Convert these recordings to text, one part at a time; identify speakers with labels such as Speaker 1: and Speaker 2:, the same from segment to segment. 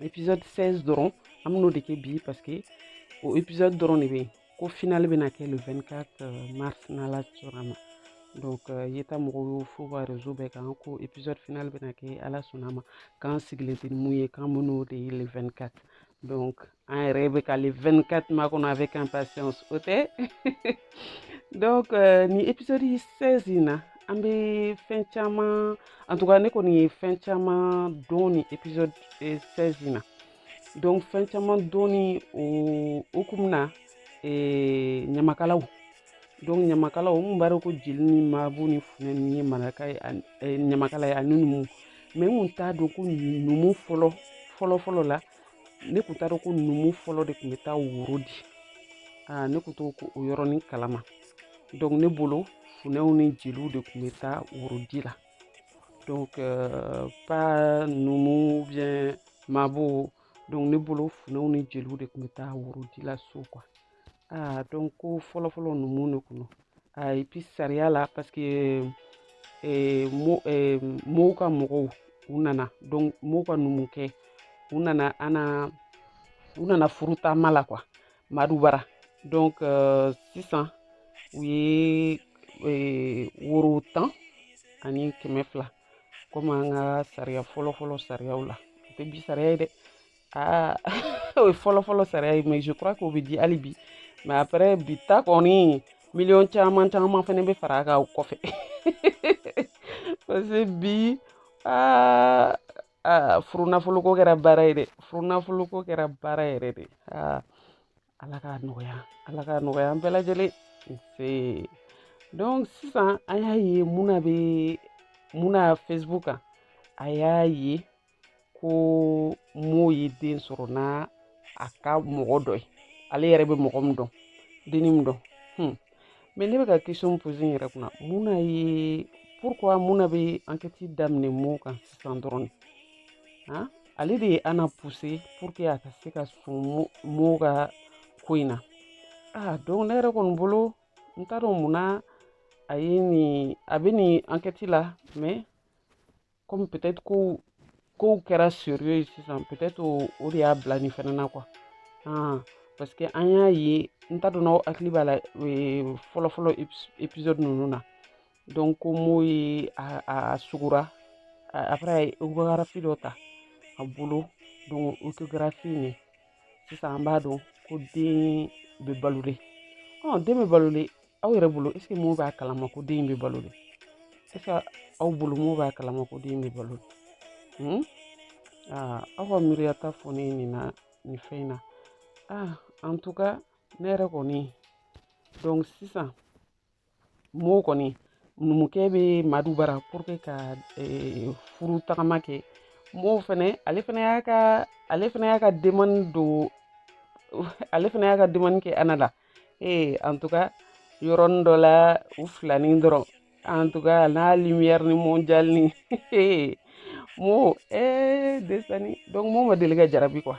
Speaker 1: épisode 16 dɔrɔn an bɛn'o de kɛ bi parce que o épisode dɔrɔn de bɛ yen ko finale bɛna kɛ le 24 euh, mars n'ala sɔnna ma donc euh, yeta mɔgɔw y'o fɔ u ka réseau bɛɛ kan ko épisode final bɛna kɛ ala sɔnna ma k'an sigilen tɛ ni mun ye k'an bɛn'o de ye le 24 donc an yɛrɛ bɛ ka le 24 makɔnɔ avec impatience o tɛ donc euh, ni épisode 16 in na an bɛ fɛn caman en tout cas ne kɔni ye fɛn caman dɔn ni épisode 16 euh, in na donc fɛn caman dɔn ni o hukumu na euh, ɲamakalaw donc ɲamakalaw n kun b'a dɔn ko jeli ni mabo ni funɛ ni ye maraka ye ɲamakala ye ani numu mais n kun t'a dɔn ko numu fɔlɔ fɔlɔ fɔlɔ la ne kun t'a dɔn ko numu fɔlɔ de kun bɛ taa woro di aa ne kun t'o ko o yɔrɔnin kalama donc ne bolo funɛw ni jeliw de kun bɛ taa worodi la donc euh, pas numu ou bien mabo donc ne bolo funɛw ni jeliw de kun bɛ taa worodi la so quoi aa donc ko fɔlɔfɔlɔ numu de kun don et puis sariya la parce que eh, mo, eh, mo ka mɔgɔw u nana donc mo ka numukɛ u nana ana u nana furu taama la quoi madu bara donc euh, sisan u ye eh, woro tan ani kɛmɛ fila komi an ka sariya fɔlɔfɔlɔ sariyaw la o tɛ bi sariya ye dɛ aa o ye fɔlɔfɔlɔ sariya ye mais je crois k'o bɛ di hali bi mais après bi ta kɔni miliyɔn caman caman fana bɛ fara a kan o kɔfɛ parce que bi aa aa furunafolo ko kɛra baara ye dɛ furunafolo ko kɛra baara yɛrɛ de aa ala k'a nɔgɔya ala k'a nɔgɔya an bɛɛ lajɛlen donc sisan an y'a ye muna bɛ muna facebook kan a y'a ye ko mo ye den sɔrɔ n'a a ka mɔgɔ dɔ ye ale yɛrɛ bɛ mɔgɔ min dɔn denni min dɔn hmm. mais ne bɛ ka question poser n yɛrɛ kunna mun na ye pourquoi muna bɛ enquête daminɛ mo kan sisan dɔrɔn de ale de ye ana poussé pour que a ka se ka sɔn mo ka ko in na aa donc ne yɛrɛ kɔni bolo n t'a dɔn mun na a ye nin a bɛ nin enquête la mais comme peut-être ko kow kɛra sérieux ye sisan peut-être o de y'a bila nin fɛnɛ na quoi aa parce que an y'a ye n t'a dɔn n'aw hakili b'a la fɔlɔfɔlɔ épisode ninnu na donc ko mo ye a a sugura après a ye échographie dɔ ta a bolo donc échographie nin sisan an b'a dɔn ko den bɛ balo de ɔ den bɛ balo de aw yɛrɛ bolo est ce que mo b'a kalama ko den bɛ balo de est ce que aw bolo mo b'a kalama ko den bɛ balo de hmm? aa aw ka miiriyata fɔ ne ye nin fɛn in na ah en tout cas ne yɛrɛ kɔni donc sisan mo kɔni numukɛ bɛ madu bara pour que ka eh, furu tagama kɛ mo fɛnɛ ale fɛnɛ y'a ka ale fɛnɛ y'a ka demande don ale fɛnɛ y'a ka demande kɛ ana la ee en tout cas yɔrɔnin dɔ la u filanin dɔrɔn en tout cas ana lumière ni mondial ni mo ee eh, desani donc mo ma deli ka jarabi quoi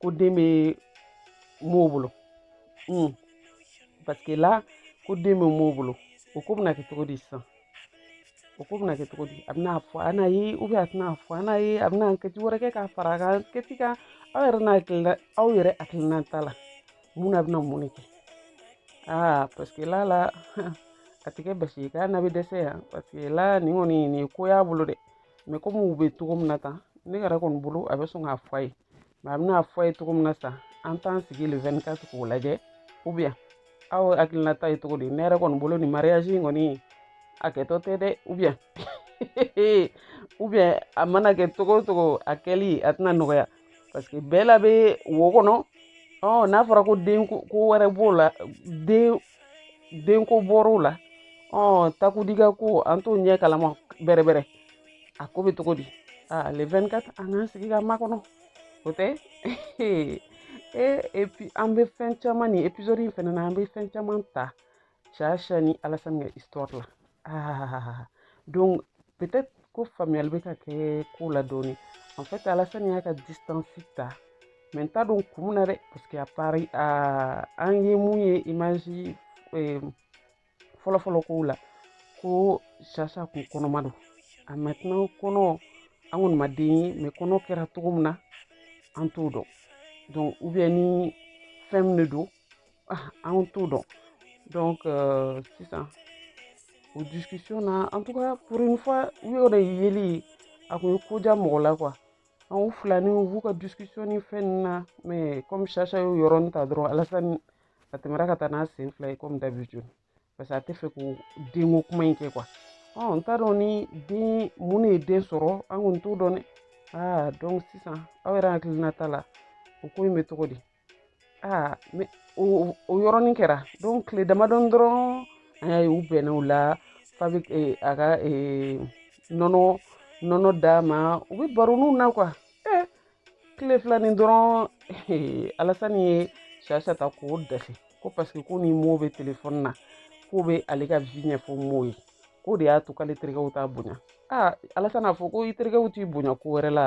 Speaker 1: ko den bɛ mo bolo un parce que là ko den bɛ mo bolo o ko bɛna kɛ cogo di sisan o ko bɛna kɛ cogo di a bɛna fɔ ana ye ou bien a tɛna fɔ ana ye a bɛna kɛci wɛrɛ kɛ k'a fara a ka kɛci kan aw yɛrɛ n'a hakilina aw yɛrɛ hakilinata la mun na a bɛna mun de kɛ aa parce que là là a tɛ kɛ basi ye k'ana bɛ dɛsɛ yan parce que là nin kɔni nin ye ko y'a bolo dɛ mais comme u bɛ cogo min na tan ne yɛrɛ kɔni bolo a bɛ sɔn k'a fɔ a ye mais a bɛna fɔ a ye cogo min na sa an t'an sigi le 24 k'o lajɛ ou bien aw hakilinata ye cogo di ne yɛrɛ kɔni bolo nin mariage in kɔni a kɛtɔ tɛ dɛ ou bien ou bien a mana kɛ cogo o cogo a kɛli a tɛna nɔgɔya parce que bɛɛ la bɛ wo kɔnɔ ɔ n'a fɔra ko den ko wɛrɛ b'o la den denko bɔr'o la ɔ takudika ko an t'o ɲɛ kalama bɛrɛbɛrɛ a ko bɛ cogo di aa le 24 an k'an sigi k'a makɔnɔ o tɛ e et puis an bɛ fɛn caman nin épisode in fɛnɛ na an bɛ fɛn caman ta sasha ni alasani ka histoire la aa donc peut-être ko faamuyali bɛ ka kɛ ko la dɔɔni en fait alasani y'a ka distance ta mais n t'a dɔn kun min na dɛ parce que a pari aa an ye mun ye image fɔlɔfɔlɔ kow la ko sasha kun kɔnɔma don a maintenant kɔnɔ an kɔni ma den ye mais kɔnɔ kɛra cogo min na an t'o dɔn donc ou bien ni fɛn min de don ah, an t'o dɔn donc euh, sisan o discussion na en tout cas pour une fois u y'o de yeli ye a kun ye koja mɔgɔ la quoi u filani u b'u ka discussion ni fɛn na mais comme sasha y'o yɔrɔnin ta dɔrɔn alasani a tɛmɛra ka taa n'a sen fila ye comme d'habitude parce que a tɛ fɛ ko denko kuma in kɛ quoi ɔ n t'a dɔn ni den mun de ye den sɔrɔ an kɔni t'o dɔn dɛ aa donc sisan aw yɛrɛ hakilinata la o ko in bɛ cogo di aa mais o yɔrɔnin kɛra donc tile damadɔn dɔrɔn an y'a ye u bɛnna o la fa bɛ a ka nɔnɔ nɔnɔ d'a ma u bɛ baroniw na quoi tile filanin dɔrɔn alassane ye chacha ta k'o dɛsɛ ko parce que ko ni mo bɛ téléphone na k'o bɛ ale ka vie ɲɛfɔ mo ye k'o de y'a to k'ale terikɛw t'a bonya aa alassane a fɔ ko i terikɛw t'i bonya ko wɛrɛ la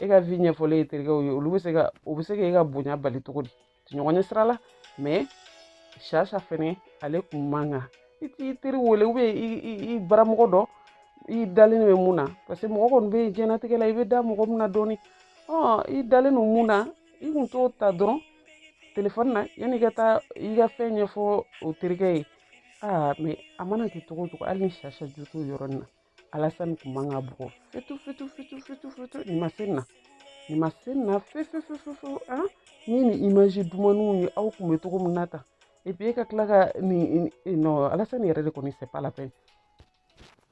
Speaker 1: e ka vie ɲɛfɔlen e terikɛw ye olu bɛ se ka o bɛ se ka e ka bonya bali cogo di ɲɔgɔn ɲɛ sira la mais chacha fɛnɛ ale kun man kan i t'i teri wele ou bien i baramɔgɔ dɔ i dalen bɛ mun na parce que mɔgɔ kɔni bɛ diɲɛnatigɛ la i bɛ da mɔgɔ min na dɔɔni i dalen don mun na i kun t'o ta dɔrɔn téléphone na yanni i ka taa i ka fɛn ɲɛfɔ o terikɛ ye aa mais a mana kɛ cogo o cogo hali ni chacha jo t'o yɔrɔnin na alassane kun man k'a bugɔ fitu fitu fitu fitu fitu nin ma se na nin ma se nin na fefefefefew a ni nin image dumaniw ye aw kun bɛ cogo min na tan et puis e ka tila ka nin non alassane yɛrɛ de kɔni c'est pas la peine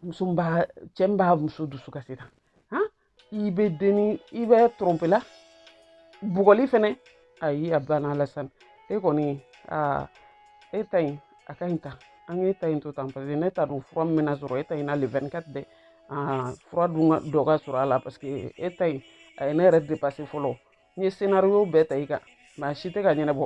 Speaker 1: muso b'a cɛ min b'a muso dusu kasi tan i bɛ denni i bɛ tromper la bugɔli fɛnɛ ayi a banna alassane e kɔni aa e ta in a ka ɲi tan an k'e ta in to tan parce que ne t'a dɔn fura min bɛna sɔrɔ e ta in na le 24 dɛ aa fura dun dɔ ka sɔrɔ a la parce que e ta in a ye ne yɛrɛ dépassé fɔlɔ n ye scénario bɛɛ ta i kan mais a si tɛ ka ɲɛnabɔ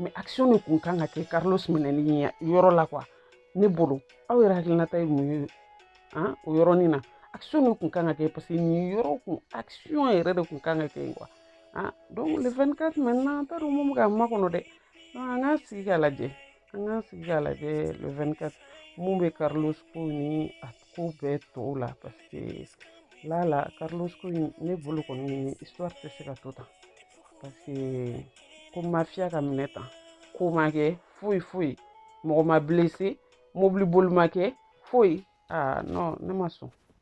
Speaker 1: mais action de kun kan ka kɛ carlos minɛni yɔrɔ la quoi ne bolo aw yɛrɛ hakilinata ye mun ye an o yɔrɔnin na action de kun kan ka kɛ parce que nin yɔrɔ kun action yɛrɛ de kun kan ka kɛ quoi an donc le 24 maintenant an t'a dɔn mun bɛ k'an makɔnɔ dɛ an k'an sigi k'a lajɛ an k'an sigi k'a lajɛ le 24 mun bɛ carlos ko ni a ko bɛɛ tɔw la parce que la la carlos ko in ne bolo kɔni histoire tɛ se ka to tan parce que ko mafia ka minɛ tan ko ma kɛ foyi foyi mɔgɔ ma blessé mobili boli ma kɛ foyi aa non ne ma sɔn